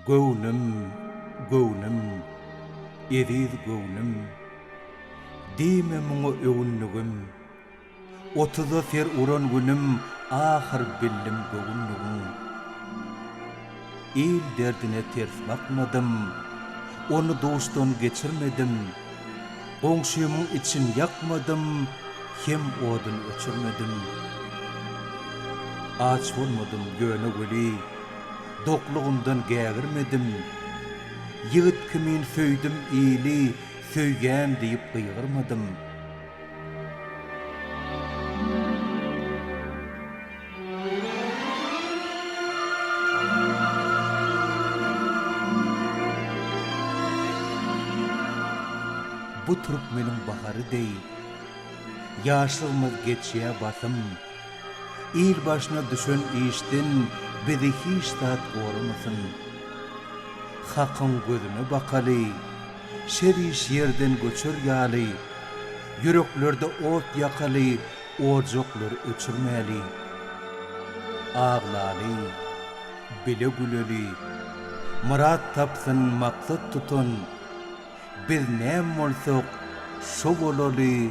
Göwnüm, göwnüm, eziz göwnüm, Diýme muňa öwündigim. Otuza ser uran günüm ahyr bildim göwünligiň. Il derdine ters bakmadym, ony duşdan geçirmedim. Goňşymyň için ýakmadym, hem odun öçürmedim. Aç bolmadym ýöne weli, doklugyndan gägirmedim. Ýigit kimin söýdüm ili, söýýän diýip gygyrmadym. Bu türkmeniň bahary deý, Ýaşlygymyz geçýä basym. Il başyna düşen işden Bizi hiç zat goramasyn. Hakyň gözüne bakaly, Şeriş ýerden göçer ýaly, Ýüreklerde ot ýakaly, Ojaklar öçürmäli. Aglaly, bile güleli, Myrat tapsyn, maksat tutan, Biz näm bolsak, şo bolaly,